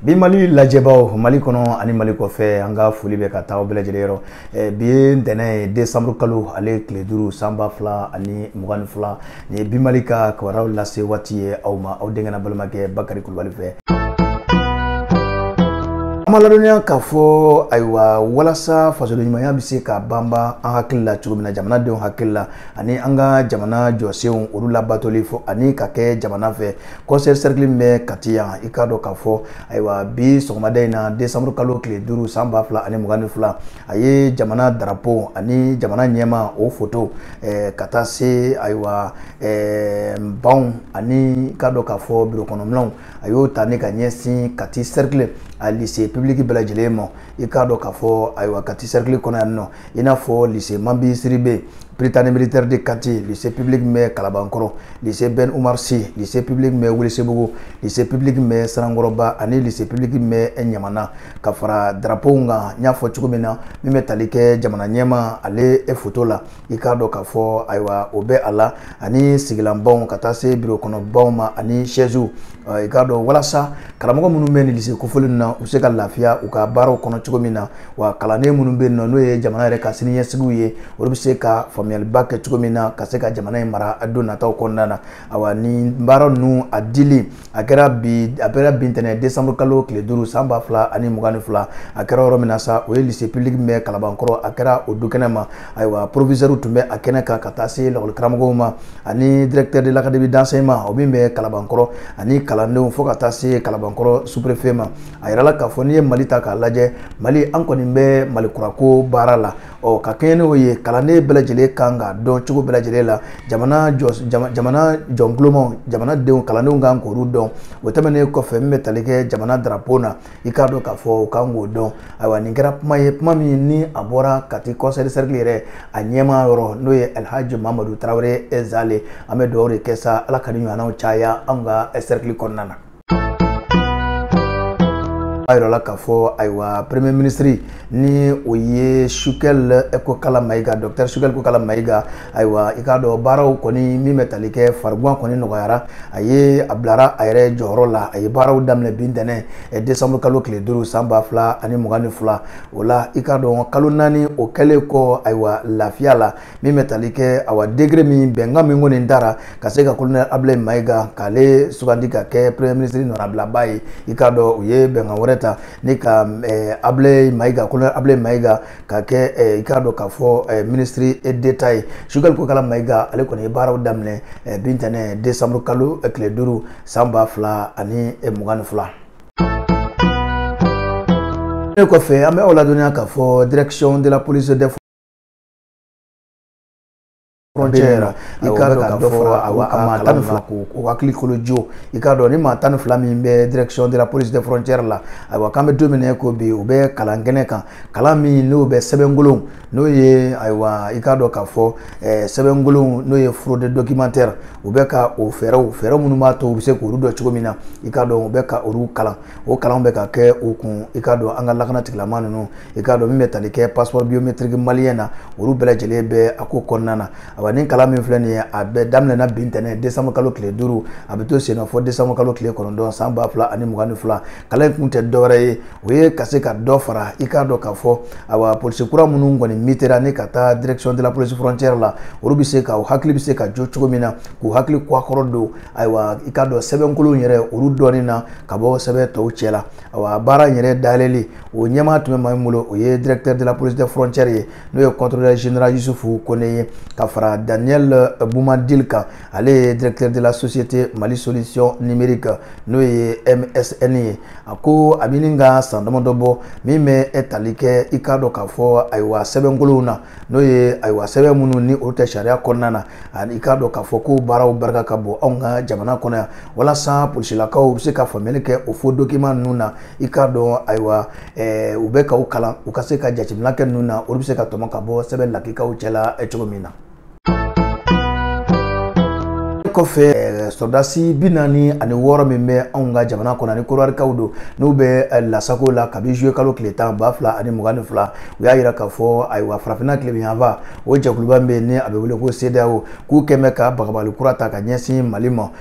bi mali lajɛbaaw mali kɔnɔ ani mali kɔfɛ an ka foli bɛ ka taa bɛɛ lajɛlen yɔrɔ eh, bi ye ntɛnɛn ye desanburu kalo ale tile duuru san ba fila ani mugan ni fila nin ye bi mali ka kibaruyaw lase waati ye aw ma aw denkɛ n'aw balimakɛ bakari kulubali fɛ an b'aw ladɔnniya k'a fɔ ayiwa walasa fasodenɲumanya bɛ se ka banban an hakili la cogo min na jamanadenw hakili la ani an ka jamana jɔsenw olu labatoli fɔ ani ka kɛ jamana fɛ kɔnsɛyi sɛrikili min bɛ kati yan i k'a dɔn k'a fɔ ayiwa bi sɔgɔmada in na desanburu kalo tile duuru san ba fila ani mugan ni fila a ye jamana darapo ani jamana ɲɛmaa o foto eh, ka taa se ayiwa eh, banw ani i k'a dɔn k'a fɔ birokɔnɔminɛnw a y'o ta ni ka ɲɛsin kati sɛrikili a lise pibiliki bɛɛ lajɛlen ma i k'a dɔn k'a fɔ ayiwa kati cercle kɔnɔ yan nɔ i n'a fɔ lycée mambi sidibe prytanée militaire de kati lycée public min bɛ kalabankɔrɔ lycée ben umar si lycée public min bɛ welesebugu lycée public min bɛ sanankɔrɔba ani lycée public min bɛ ɲamana ka fara drapeau kan n y'a fɔ cogo min na min bɛ tali kɛ jamana ɲɛmaa ale foto la i k'a dɔn k'a fɔ ayiwa o bɛ a la ani sigilanbaw ka taa se biro kɔnɔbaw ma ani sɛziw i k'a dɔn walasa karamɔgɔ minnu bɛ nin lise kofɔlen na u se ka lafiya u ka baaraw kɔnɔ cogo min na wa kalanden minnu bɛ yen nɔ n'o ye jamana yɛrɛ ka siniɲɛsigiw ye olu bɛ se ka faamuyaliba kɛ cogo min na ka se ka jamana in mara don nataw kɔnɔna na ayiwa nin baara ninnu a dili a kɛra bi a kɛra bi ntɛnɛn décembre kalo tile duuru san ba fila ani mugan ni fila a kɛra yɔrɔ min na sa o ye lycée public min bɛ kalabankɔrɔ a kɛra o dukɛnɛ ma ayiwa proviseur tun bɛ a kɛnɛ kan ka taa se lakɔli karamɔgɔw ma ani directeur de l'académie d'enseignement o min bɛ kalabankɔrɔ ani kalandenw fo ka taa se kalabankɔrɔ sous-préfet ma a yirala k'a fɔ n'i ye mali ta k'a lajɛ mali an kɔni bɛ mali kura ko baara la ɔ ka kɛɲɛ n'o ye kalanden bɛɛ lajɛlen kan k'a dɔn cogo bɛɛ lajɛlen la jamana jɔnkuloma jamanadenw kalandenw kan k'olu dɔn o tɛmɛnen kɔfɛ min bɛ tali kɛ jamana darapo na i k'a dɔn k'a fɔ u kan k'o dɔn ayiwa nin kɛra kuma ye kuma min ni a bɔra kati kɔnsɛyi sɛrikili yɛrɛ a ɲɛmaa yɔrɔ n'o ye alhaji mamadu tarawele zale an bɛ dugawu de kɛ sa ala ka nin ɲɔgɔnnaw caya an ka sɛrikili kɔnɔna na a yirala k'a fɔ ayiwa premier ministre ni o ye sogɛl kokala mayiga docteur sogɛl kokala mayiga ayiwa i k'a dɔn baaraw kɔni min bɛ tali kɛ farigan kɔni nɔgɔyara a ye a bilara a yɛrɛ jɔyɔrɔ la a ye baaraw daminɛ bi ntɛnɛ eh, décembre kalo tile duuru san ba fila ani mugan ni fila o la i k'a dɔn kalo naani o kɛlen kɔ ayiwa lafiya la min bɛ tali kɛ awa décret min bɛnkan min kɔni tara ka se ka kolonɛ abulayi mayiga k'ale sugandi ka kɛ premier ministre nɔnabilaba ye i k'a dɔn u ye bɛnkan wɛrɛ ta ni ka abulayi mayiga kolonɛ abulayi mayiga ka kɛ i k'a dɔn k'a fɔ ministre d'état ye sogɛli kokala mayiga ale kɔni ye baaraw daminɛ bi ntɛnɛn décembre kalo tile duuru san ba fila ani mugan ni fila nin kɔfɛ an bɛ aw ladɔnniya k'a fɔ direction de la police de frontière i k'a dɔn k'a fɔ a maa tan ni fila k'u hakili kolo jo i k'a dɔn nin maa tan ni fila min bɛ direction de la police de frontière la ayiwa k'an bɛ don min na ko bi u bɛ kalan kɛnɛ kan kalan min n'o bɛ sɛbɛnkolon n'o ye ayiwa i k'a dɔn k'a fɔ sɛbɛnkolon n'o ye fraude documentaire u bɛ ka o fɛɛrɛw fɛɛrɛ minnu b'a to u bɛ se k'olu dɔn cogo min na i k'a dɔn u bɛ ka olu kalan o kalan bɛ ka kɛ u kun i k'a dɔn an ka lakana tigilamaa ninnu i k'a dɔn min bɛ tali kɛ passeport biométrique malien na olu bɛɛ lajɛlen bɛ a ko kɔnɔna na awa nin kalan min filɛ nin ye a bɛɛ daminɛna bi ntɛnɛn décembre kalo tile duuru a bɛ to senna fɔ décembre kalo tile kɔnɔntɔn san ba fila ani mugan ni fila kalan in kun tɛ dɔwɛrɛ ye o ye ka se ka dɔ fara i k'a dɔn k'a fɔ awa polisi kura minnu kɔni mitera ni ka taa direction de la police frontière la olu bɛ se ka u hakili bɛ se ka jo cogo min na k'u hakili kɔkɔrɔ don ayiwa i k'a dɔn sɛbɛnkolon yɛrɛ olu dɔnni na ka bɔ sɛbɛn tɔw cɛ la awa baara in yɛrɛ dayɛlɛli o ɲɛmaa tun bɛ maa min bolo o ye directeur de la police des frontières ye n'o ye contrôleur général Yusufu Kone ye ka fara Daniel euh, Boumadil kan ale ye directeur de la société Mali solution numérique n'o ye MSN ye a ko a bɛ ɲini ka san damadɔ bɔ min bɛ tali kɛ i k'a dɔn k'a fɔ ayiwa sɛbɛnkolonw na n'o ye ayiwa sɛbɛn minnu ni olu tɛ sariya kɔnɔna na ani i k'a dɔn k'a fɔ ko baaraw barika ka bon anw ka jamana kɔnɔ yan walasa polisilakaw bɛ se ka faamuyali kɛ o faux document ninnu na i k'a dɔn ayiwa eh, u bɛ k'u kalan u ka se ka jateminɛ kɛ ninnu na olu bɛ se ka tɔmɔ ka bɔ sɛbɛn lakikaw cɛla eh, cogo min na kɔfɛ eh, sɔrɔdasi bi naani ani wɔɔrɔ min bɛ anw ka jamana kɔnɔ ani korowarikaw don n'u bɛ eh, lasago la kabi zuye kalo tile tan ba fila ani mugan ni fila u y'a yira k'a fɔ ayiwa farafinna tilebinyanfan o jɛkuluba min bɛ yen ni a bɛ wele ko sedeyawo k'u kɔni bɛ ka bagabagali kura ta ka ɲɛsin mali ma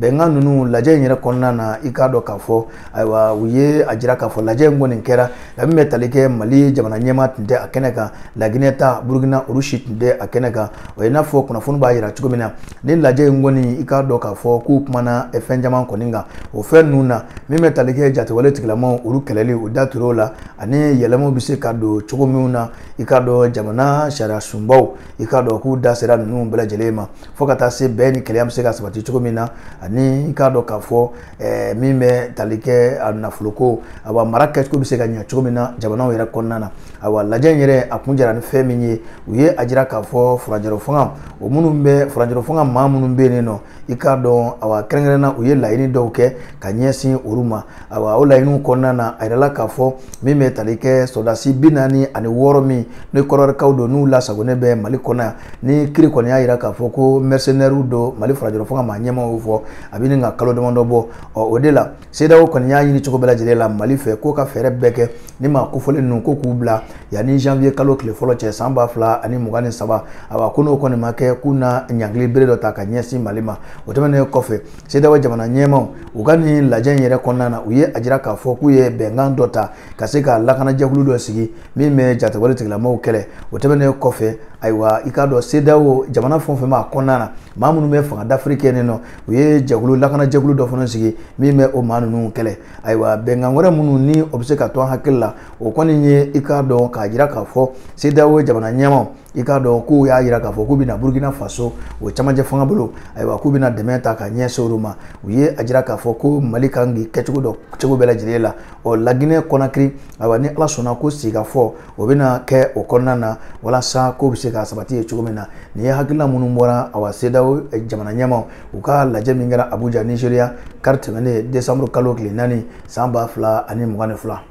bɛnkan ninnu lajɛ in yɛrɛ kɔnɔna na i k'a dɔn k'a fɔ ayiwa u ye a jira k'a fɔ lajɛ in kɔni kɛra ka min bɛ tali kɛ mali jamana ɲɛmaa tun tɛ a kɛnɛ kan laginɛ ta burukina olu si tun tɛ a kɛnɛ kan o ye n'a fɔ kunnafoni b'a jira cogo min na ni lajɛ in kɔni i k'a dɔn k'a fɔ k'u kumana fɛn caman kɔni kan o fɛn ninnu na min bɛ tali kɛ jatigɛwale tigilamaaw olu kɛlɛli u da tur'o la ani yɛlɛmaw bɛ se ka don cogo minnu na i k'a dɔn jamana sariya sunbaw i k'a dɔn k'u da sera ninnu bɛɛ lajɛlen ma fo ka taa se bɛn ni kelenya bɛ se ka sabati cogo min na ani i k'a dɔn k'a fɔ eh, min bɛ tali kɛ a nafoloko awa mara kɛcogo bɛ se ka ɲɛ cogo min na jamanaw yɛrɛ kɔnɔna na awa lajɛ in yɛrɛ a kun jara ni fɛn min ye u ye a jira k'a fɔ furancɛrɔ fanga o minnu bɛ furancɛrɔ fanga maa minnu bɛ yen nɔ i k'a dɔn awa kɛrɛnkɛrɛnna u ye laɲini dɔw kɛ ka ɲɛsin olu ma awa o laɲiniw kɔnɔna na a yirala k'a fɔ min bɛ tali kɛ sɔrɔdasi bi naani ani wɔɔrɔ min ni kɔdiwarikaw don n'u lasagonen bɛ mali kɔnɔ yan ni kiri kɔni y'a jira k'a fɔ ko mɛrisenɛriw don mali furancɛrɔ fanga maa ɲɛmaw y'o fɔ a bɛ ɲini ka kalo damadɔ bɔ ɔ o de la CEDEAO kɔni y'a ɲini cogo bɛɛ lajɛlen la mali fɛ k'o ka fɛɛrɛ bɛɛ kɛ ni maa kofɔlen ninnu ko k'u bila yanni janvier kalo tile fɔlɔ cɛ san ba fila ani mugan ni saba awa ko n'o kɔni ma kɛ k'u na ɲangili bɛrɛ dɔ ta ka ɲɛsin mali ma o tɛmɛnen kɔfɛ CEDEAO jamana ɲɛmaaw u ka nin lajɛ in yɛrɛ kɔnɔna na u ye a jira k'a fɔ k'u ye bɛnkan dɔ ta ka se ka lakanajɛkulu dɔ sigi min bɛ jatigɛwale tigilamaw kɛlɛ o tɛmɛnen kɔfɛ ayiwa i k'a dɔn CEDEAO jamana fɛn o fɛn b'a kɔnɔna na maa minnu bɛ fanga dafiri kɛ nin nɔ u ye jɛkulu lakanajɛkulu dɔ fana sigi min bɛ o maa ninnu kɛlɛ ayiwa bɛnkan wɛrɛ minnu ni o bɛ se ka to an hakili la o kɔni ye i k'a dɔn k'a jira k'a fɔ CEDEAO jamana ɲɛmaaw i k'a dɔn k'u y'a jira k'a fɔ k'u bɛna burukina faso o camancɛ fanga bolo ayiwa k'u bɛna dɛmɛ ta ka ɲɛsin olu ma u ye a jira k'a fɔ ko mali kan k'i kɛcogo dɔ cogo bɛɛ lajɛlen la ɔ laginɛ kɔnakiri ayiwa ni ala sɔnna ko sigikafɔ o bɛna kɛ o kɔnɔna na walasa ko bɛ se ka sabati yen cogo min na nin ye hakilina minnu bɔra awa CEDEAO eh, jamana ɲɛmaw u ka lajɛ min kɛra abuja nigeria kari tɛmɛnen desanburu kalo tile naani san ba fila ani mugan ni fila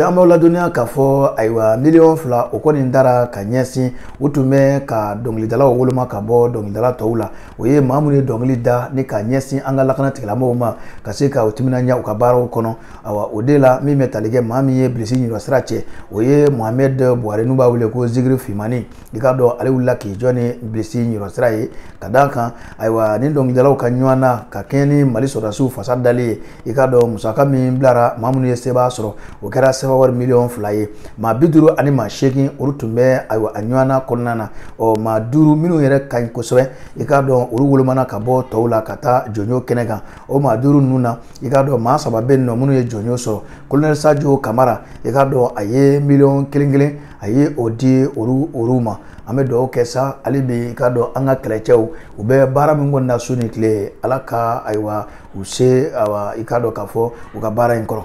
an b'aw ladɔnniya k'a fɔ ayiwa miliyɔn fila o kɔni dara ka ɲɛsin u tun bɛ ka dɔnkilidalaw woloma ka bɔ dɔnkilidala tɔw la o ye maa minnu ye dɔnkili da ni ka ɲɛsin an ka lakana tigilamɔgɔw ma ka se ka u timinandiya u ka baaraw kɔnɔ awa o de la min bɛ tali kɛ maa min ye bilisi ɲinɔsira cɛ o ye mohamɛd buware n'u b'a wele ko zigiri fimani i k'a dɔn ale wulila k'i jɔ ni bilisi ɲɔsira ye ka d'a kan ayiwa ni dɔnkilidalaw ka ɲɔgɔndan ka kɛɲɛ ni mali sɔrɔdasiw fasa dali ye i k'a dɔn musaka min bilara maa minnu ye sebaaya sɔrɔ o kɛra sefawari miliyɔn fila ye maa bi duuru ani maa seegin olu tun bɛ ayiwa a ɲɔgɔndan kɔnɔna na ɔ maa duuru minnu yɛrɛ ka ɲi kosɛbɛ i k'a dɔn olu wolomana ka bɔ tɔw la ka taa jɔnjɔn kɛnɛ kan o maa duuru ninnu na i k'a dɔn maa saba bɛ yen nɔ minnu ye jɔnjɔn sɔrɔ kolonɛli sajo kamara i k'a dɔn a ye miliyɔn kelen kelen a ye o di olu ma an bɛ dugawu kɛ sa hali bi i k'a dɔn an ka kɛlɛcɛw u bɛ baara min kɔni na su ni tile ala ka ayiwa u se ayiwa i k'a dɔn k'a fɔ u ka baara in kɔrɔ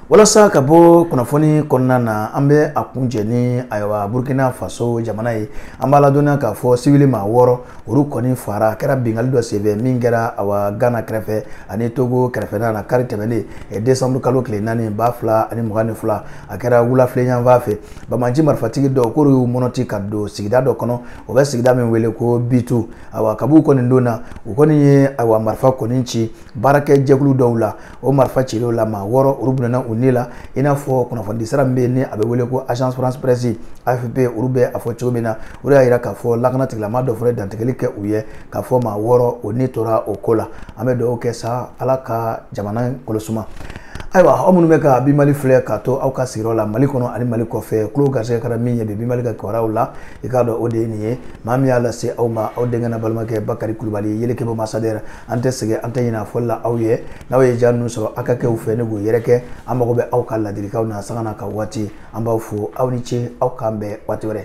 walasa ka bɔ kunnafoni kɔnɔna na an bɛ a kuncɛ ni ayiwa burkina faso jamana ye an b'a ladɔnniya k'a fɔ sibili maa wɔɔrɔ olu kɔni fara a kɛra binkanni dɔ senfɛ min kɛra awa gana kɛrɛfɛ ani togo kɛrɛfɛna na kari tɛmɛnen desanburu kalo tile naani ba fila ani mugan ni fila a kɛra wulafɛla yanfan fɛ banbaanci marifatigi dɔw k'olu y'u mɔnɔti ka don sigida dɔ kɔnɔ o bɛ sigida min wele ko bitu awa kab'u kɔni donna u kɔni ye awa marifa kɔni ci baarakɛ jɛkulu dɔw la o marifa cilenw la maa wɔɔrɔ olu bɔnɛna u ni la i n'a fɔ kunnafonidi sira min bɛ yen ni a bɛ wele ko agence france presse afp olu bɛ a fɔ cogo min na o de y'a jira k'a fɔ lakana tigilamaa dɔ fana ye dantigɛli kɛ u ye k'a fɔ maa wɔɔrɔ o ni tora o ko la an bɛ dugawu kɛ sa ala ka jamana kɔlɔsuma ayiwa aw minnu bɛ ka bimali filɛ k'a to aw ka sigiyɔrɔ la mali kɔnɔ ani mali kɔfɛ tulo garisɛgɛ kɛra min ye bi bimali ka kibaruyaw la i k'a dɔn o de ye nin ye maa min y'a lase aw ma aw denkɛ n'aw balimakɛ bakari kulubali yelekebo masadɛrɛ an tɛ sɛgɛn an tɛ ɲinɛ a fɔli la aw ye n'aw ye ja ninnu sɔrɔ aw ka kɛ u fɛ ni k'u yɛrɛkɛ an mago bɛ aw ka ladilikanw na sanga na ka waati an b'aw fo aw ni ce aw k'an bɛn waati wɛrɛ